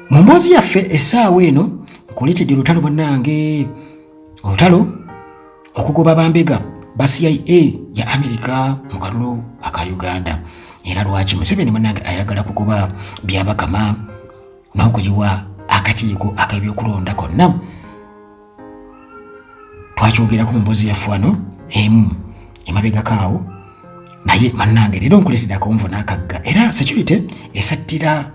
mu mboozi yaffe essaawa eno nkuleetedde olutalo bannange olutalo okugoba bambega ba cia ya amerika mu kalulu aka uganda era lwaki museveni munange ayagala kugoba byabakama n'okuyiwa akakiiko ak'ebyokulonda konna twakyogerako mu mbozi yaffe wano emu emabegako awo naye bannange leero nkuleetera akonvo n'akagga era security esattira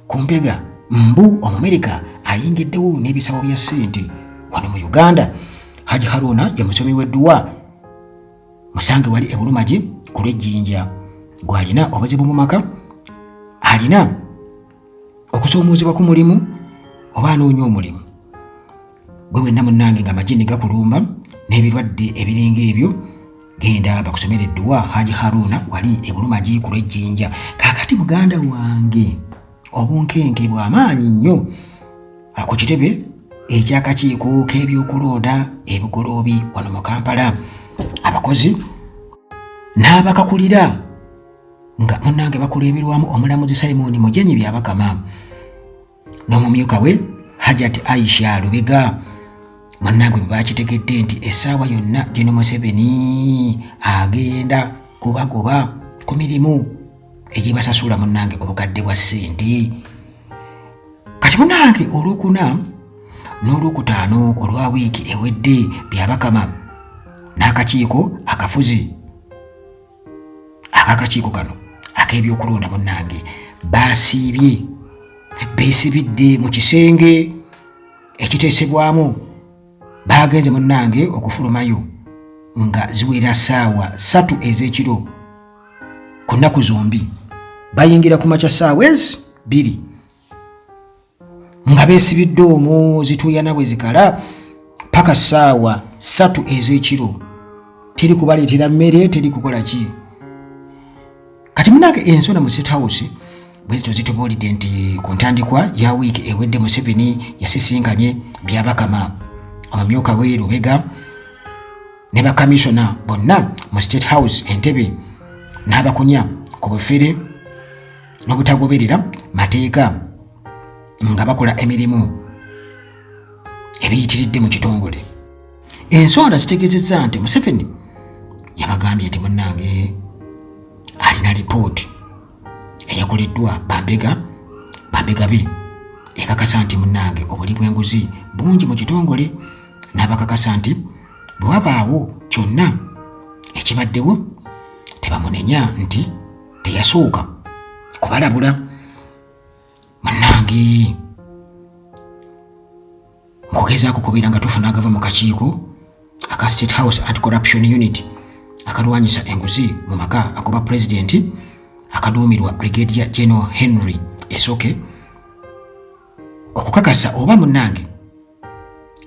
ku mbega mbu omumerika ayingiddewo n'ebisawo bya ssente wano mu uganda haji haruna ye musomi w'edduwa musange wali ebulumagi ku lw'ejjinja gw'alina obuzibu mu maka alina okusoomoozebwa ku mulimu oba anoonya omulimu bwe bwenna munnange nga amajini gakulumba n'ebirwadde ebiringa ebyo genda bakusomera edduwa haji haruna wali ebuluma giikulu ejjinja kaakati muganda wange obunkenke bw'amaanyi nnyo ku kitebe eky'akakiiko k'ebyokulonda ebigoloobi wano mu kampala abakozi n'abakakulira nga munnange bakulemberwamu omulamuzi simoni mujenyi byabakama n'omumyuka we hajat aisha lubega munnange bwe bakitegedde nti essaawa yonna gino museveni agenda kubagoba ku mirimu egyebasasula munnange obukadde bwa ssente kati munnange olwokuna n'olwokutaano olwa wiiki ewedde byabakama n'akakiiko akafuzi akakakiiko kano ak'ebyokulonda munnange baasiibye beesibidde mu kisenge ekiteesebwamu baagenze munnange okufulumayo nga ziwera saawa satu ez'ekiro ku nnaku zombi bayingira ku makya saawa ezi bbiri nga beesibidde omwo zituuyana bwe zikala paka ssaawa ssatu ez'ekiro teri kubaleetera mmere teri kukola ki kati munange ensona mu state house bwezito zitubuulidde nti ku ntandikwa ya wiiki ewedde museveni yasisinkanye byabakama omumyuka we lubega ne bakamisona bonna mu state house entebe n'abakunya ku bufere n'obutagoberera mateeka nga bakola emirimu ebiyitiridde mu kitongole ensonda zitegeezezza nti museveni yabagambye nti munnange alina lipooti eyakoleddwa bambega bambega be ekakasa nti munnange obuli bw'enguzi bungi mu kitongole n'abakakasa nti bwe wabaawo kyonna ekibaddewo tebamunenya nti teyasooka kubalabula munange mukugezaako kubeera nga tufuna agava mu kakiiko aka state house anti corruption unit akalwanyisa enguzi mu maka agoba pulezidenti akaduumirwa brigadier general henry esoke okukakasa oba munnange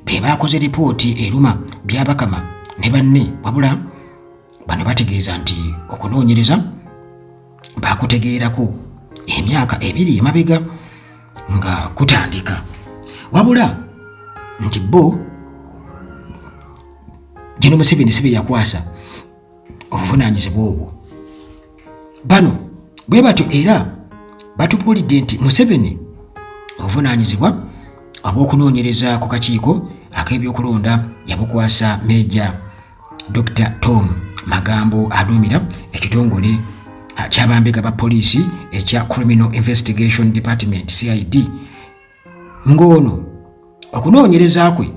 be baakoze lipooti eruma byabakama ne banne wabula bano bategeeza nti okunoonyereza baakutegeerako emyaka ebiri emabega nga kutandika wabula nti bo gino museveni si be yakwasa obuvunaanyizibwa obwo bano bwe batyo era batubuulidde nti museveni obuvunaanyizibwa obw'okunoonyereza ku kakiiko ak'ebyokulonda yabukwasa meeja dr tom magambo aduumira ekitongole kyabambega ba poliisi ekya criminal investigation department cid ng'ono okunoonyereza kwe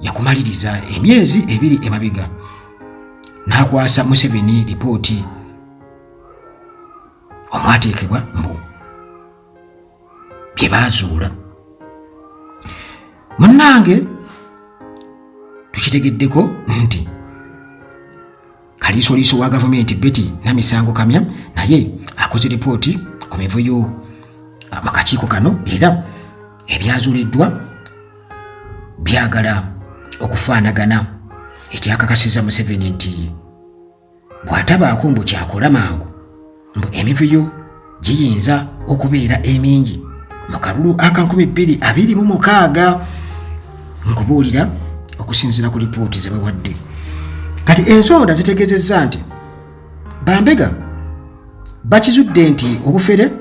yakumaliriza emyezi ebiri emabega n'akwasa museveni lipooti omwateekebwa mbu bye baazuula munnange tukitegeddeko nti Kaliisoliiso wa gavumenti Betty Namisango Kamya naye akoze lipooti ku mivuyo ah, mu kakiiko kano era ebyazuliddwa byagala okufaanagana ekyakakasiza Museveni nti bw'atabaako mbu kyakola mangu mbu emivuyo giyinza okubeera emingi mu kalulu aka 2026 nkubuulira okusinziira ku lipooti ze bawadde kati ensonda zitegeezezza nti bambega bakizudde nti obufere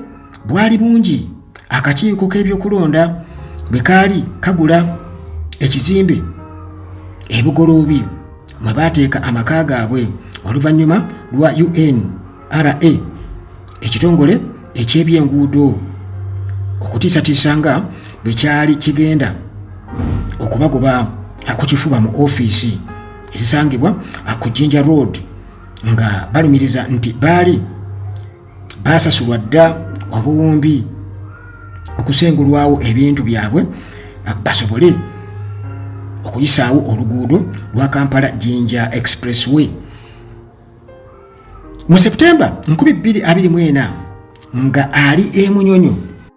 bwali bungi akakiiko k'ebyokulonda bwe kaali kagula ekizimbe ebugoloobi mwe baateeka amaka gaabwe oluvannyuma lwa unra ekitongole eky'ebyenguudo okutiisatiisa nga bwe kyali kigenda okubagoba ku kifuba mu ofiisi ezisangibwa ku jinja road nga balumiriza nti baali baasasulwa dda obuwumbi okusengulwawo ebintu byabwe basobole okuyisaawo oluguudo lwa kampala jinja expressway mu september 224 nga ali emunyonyo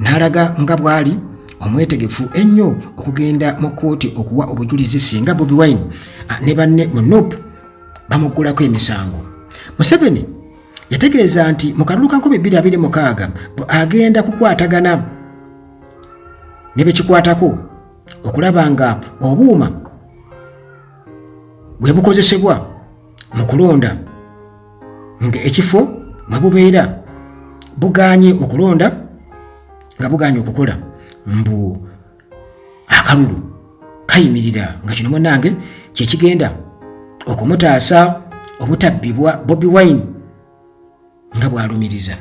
n'alaga nga bw'ali omwetegefu ennyo okugenda mu kkooti okuwa obujulizi singa bobi wine ah, ne banne mu nup bamuggulako emisango museveni yategeeza nti mu kalulu ka 226 agenda kukwatagana ne bekikwatako okulaba nga obuuma bwe bukozesebwa mu kulonda nga ekifo mwe bubeera buganye okulonda nga buganye okukola mbu akalulu kayimirira nga kino munange kyekigenda okumutaasa obutabbibwa bobi wine nga bwalumiriza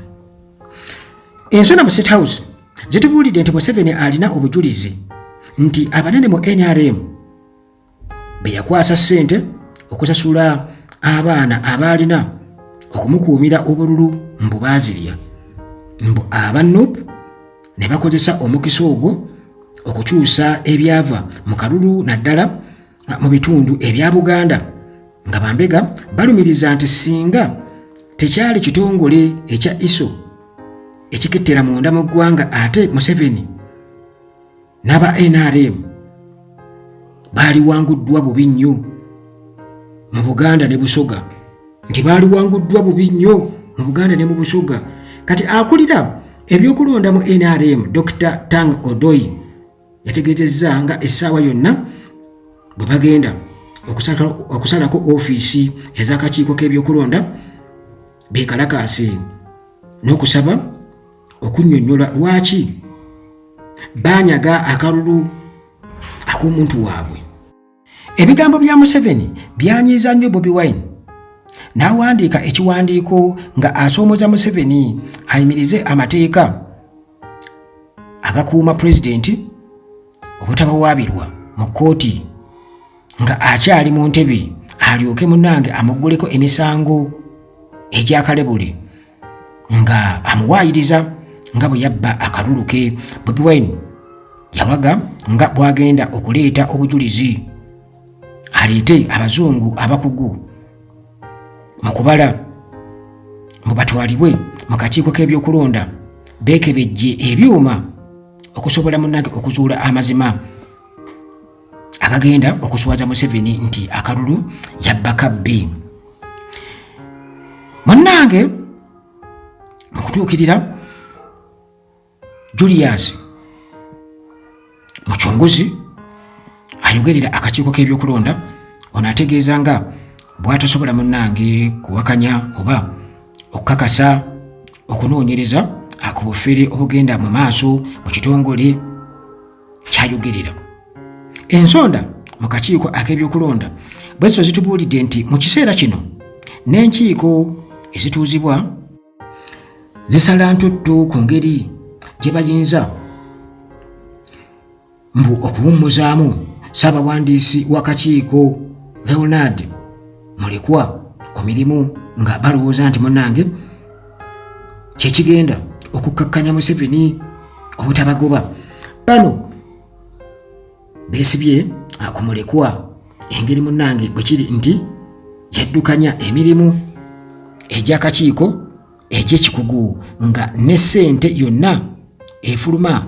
ensona mu state house zitubuulidde nti museveni alina obujulizi nti abanene mu nrm be yakwasa ssente okusasula abaana abaalina okumukuumira obululu mbu baazirya mbu aba nup ne bakozesa omukisa ogwo okukyusa ebyava mu kalulu naddala mu bitundu ebya buganda nga bambega balumiriza nti singa tekyali kitongole ekya iso ekikettera munda mu ggwanga ate museveni n'aba nrm baaliwanguddwa bubi nnyo mu buganda ne busoga nti baaliwanguddwa bubi nnyo mu buganda ne mu busoga kati akulira ebyokulonda mu nrm dr tang odoi yategeezezza nga essaawa yonna bwe bagenda okusalako ofiisi ez'akakiiko k'ebyokulonda beekalakaase n'okusaba okunnyonnyola lwaki baanyaga akalulu ak'omuntu waabwe ebigambo bya museveni byanyiiza nnyo bobi wine n'awandiika ekiwandiiko nga asoomoza museveni ayimirize amateeka agakuuma pulezidenti obutabawaabirwa mu kkooti nga akyali mu ntebe alyoke munange amugguleko emisango egyakalebule nga amuwaayiriza nga bwe yabba akalulu ke bobi wine yawaga nga bwagenda okuleeta obujulizi aleete abazungu abakugu mu kubala mu batwalibwe mu kakiiko k'ebyokulonda beekebejje ebyuma okusobola munange okuzuula amazima akagenda okuswaza museveni nti akalulu yabba kabbi munnange mu kutuukirira julius mucunguzi ayogerera akakiiko k'ebyokulonda ono ategeeza nga bwatasobola munnange kuwakanya oba okukakasa okunoonyereza ku bufere obugenda mu maaso mu kitongole kyayogerera ensonda mu kakiiko ak'ebyokulonda bweziso zitubuulidde nti mu kiseera kino n'enkiiko ezituuzibwa zisala ntuttu ku ngeri gye bayinza mbu okuwummuzaamu ssaabawandiisi w'akakiiko leonard mulekwa ku mirimu nga balowooza nti munange kyekigenda okukkakkanya museveni obutabagoba bano besibye akumulekwa engeri munange bwekiri nti yaddukanya emirimu egyakakiiko egyekikugu nga ne ssente yonna efuluma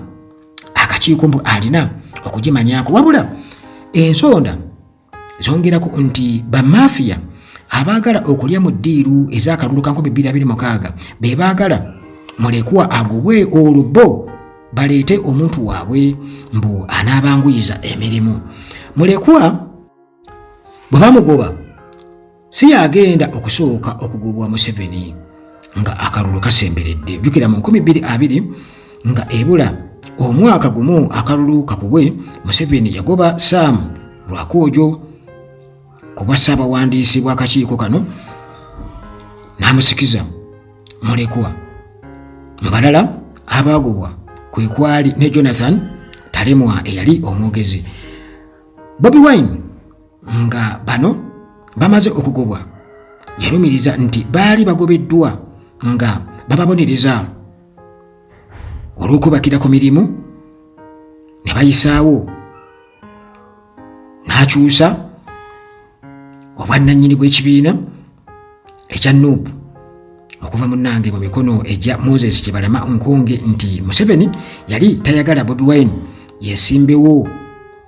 akakiiko mbu alina okugimanyako wabula ensonda zongerako nti bamafiya abaagala okulya mu ddiiru ez'akalulu ka 2026 be baagala mulekwa agobwe olubo baleete omuntu waabwe mbu anaabanguyiza emirimu mulekwa bwe bamugoba si yagenda okusooka okugobwa museveni nga akalulu kasemberedde jukira mu 220 nga ebula omwaka gumu akalulu kakubwe museveni yagoba sam lwakwojo kuba ssaabawandiisi bw'akakiiko kano n'amusikiza mulekwa mu balala abaagobwa kwe kwali ne jonathan talemwa eyali omwogezi bobi wine nga bano bamaze okugobwa yalumiriza nti baali bagobeddwa nga bababonereza olw'okubakira ku mirimu ne bayisaawo n'akyusa obwannannyini bw'ekibiina ekya nup okuva munnange mu mikono egya moses kyebalama nkonge nti museveni yali tayagala bobi wine yesimbewo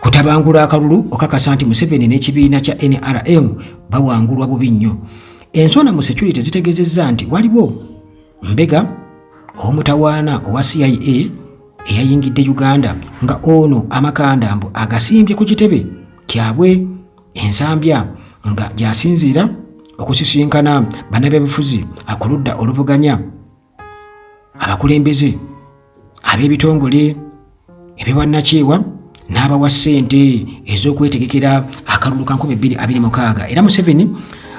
Kutabangula akalulu okakasa nti Museveni n'ekibiina kya NRM bawangulwa bubi nnyo. Ensonda mu security zitegezezza nti waliwo mbega omutawaana owa CIA eyayingidde Uganda nga ono amakanda mbu agasimbye ku kitebe kyabwe ensambya nga gyasinziira okusisinkana bannabyabufuzi akuludda oluvuganya abakulembeze ab'ebitongole ebyobwannakyewa n'abawa ssente ez'okwetegekera akalulu ka 2026 era museveni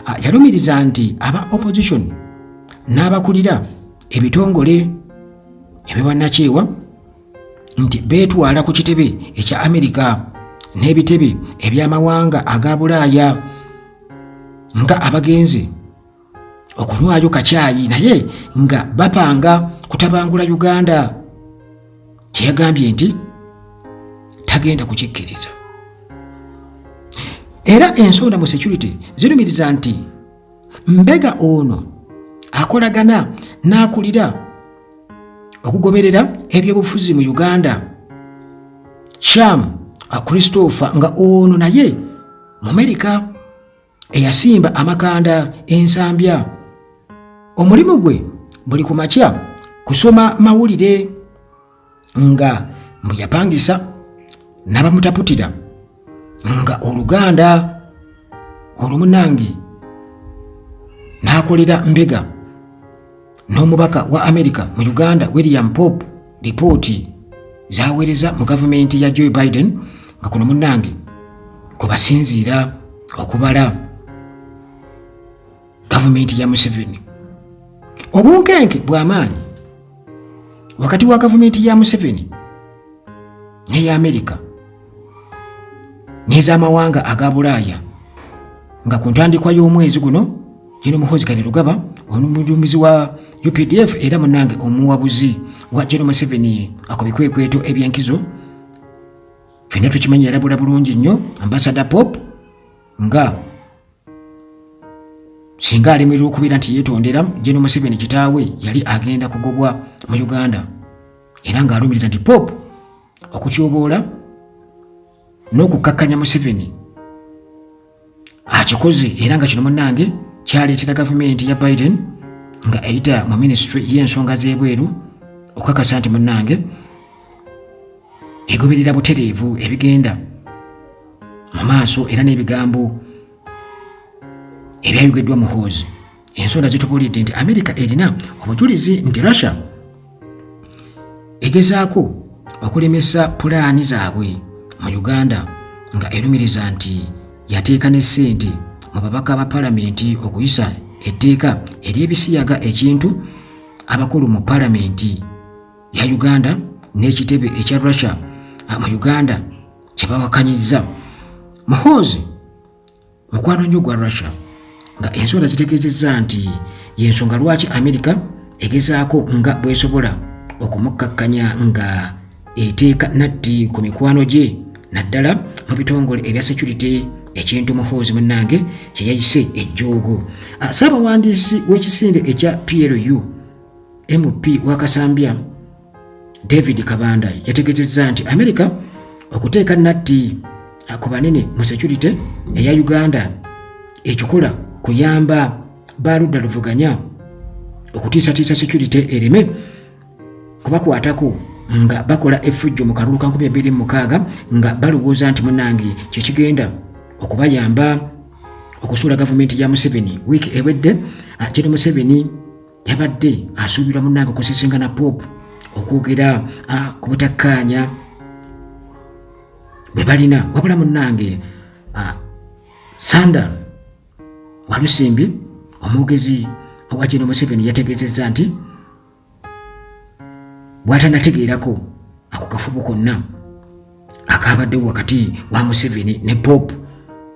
ah, yalumiriza nti aba opposition n'abakulira ebitongole ebyobwannakyewa nti beetwala ku kitebe ekya amerika n'ebitebe eby'amawanga aga bulaaya nga abagenzi okunywaayo kakyayi naye nga bapanga kutabangula uganda kyeyagambye nti tagenda kukikkiriza era ensonda mu security zirumiriza nti mbega ono akolagana n'akulira okugoberera ebyobufuzi mu uganda sham christopher nga ono naye mu amerika eyasimba amakanda ensambya omulimu gwe buli ku makya kusoma mawulire nga mbu yapangisa n'abamutaputira nga oluganda olumunange n'akolera mbega n'omubaka wa Amerika mu Uganda William Pope lipooti zaweereza mu gavumenti ya Joe Biden nga kuno munnange kwe basinziira okubala gavumenti ya Museveni. Obunkenke bw'amaanyi wakati wa gavumenti ya Museveni n'eya Amerika n'ez'amawanga aga bulaaya nga ku ntandikwa y'omwezi guno Gen Muhoozi Kainerugaba omuduumizi wa UPDF era munange omuwabuzi wa Gen Museveni ako bikwekweto ebyenkizo fenna tukimanyi yalabula bulungi nnyo ambasada pop nga singa alemererwa okubeera nti yeetondera Gen Museveni kitaawe yali agenda kugobwa mu Uganda era ng'alumiriza nti pop okutyoboola n'okukkakkanya museveni akikoze era nga kino munnange kyaleetera gavumenti ya biden nga eyita mu minisitule y'ensonga z'ebweru okukakasa nti munnange egoberera butereevu ebigenda mu maaso era n'ebigambo ebyayogeddwa muhoozi ensonda zitubulidde nti amerika erina obujulizi nti russia egezaako okulemesa pulaani zaabwe mu Uganda nga erumiriza nti yateeka ne ssente mu babaka ba palamenti okuyisa etteeka ery'ebisiyaga ekintu abakulu mu palamenti ya Uganda n'ekitebe ekya Russia mu Uganda kye bawakanyizza. Muhoozi mukwano nnyo gwa russia nga ensonda zitegeezezza nti yensonga lwaki amerika egezaako nga bwesobola okumukkakkanya nga eteeka natti ku mikwano gye naddala mu bitongole ebya security ekintu muhoozi munnange kye yayise ejjoogo ah, ssaabawandiisi w'ekisinde ekya plu mp wakasambya David Kabanda yategezezza nti Amerika okuteeka natti ku banene mu security eya Uganda ekikola kuyamba baludda luvuganya okutiisatiisa security ereme kubakwatako nga bakola effujjo mu kalulu ka 2026 nga balowooza nti munange kyekigenda okubayamba okusuula gavumenti ya Museveni wiiki ewedde Gen Museveni yabadde asuubirwa munnange okusisinga na pop okwogera ah, ku butakkaanya bwe balina wabula munnange ah, sandal walusimbi omwogezi owa kino museveni yategeezezza nti bwatanategeerako ako kafubo konna akaabaddewo wakati wa museveni ne pop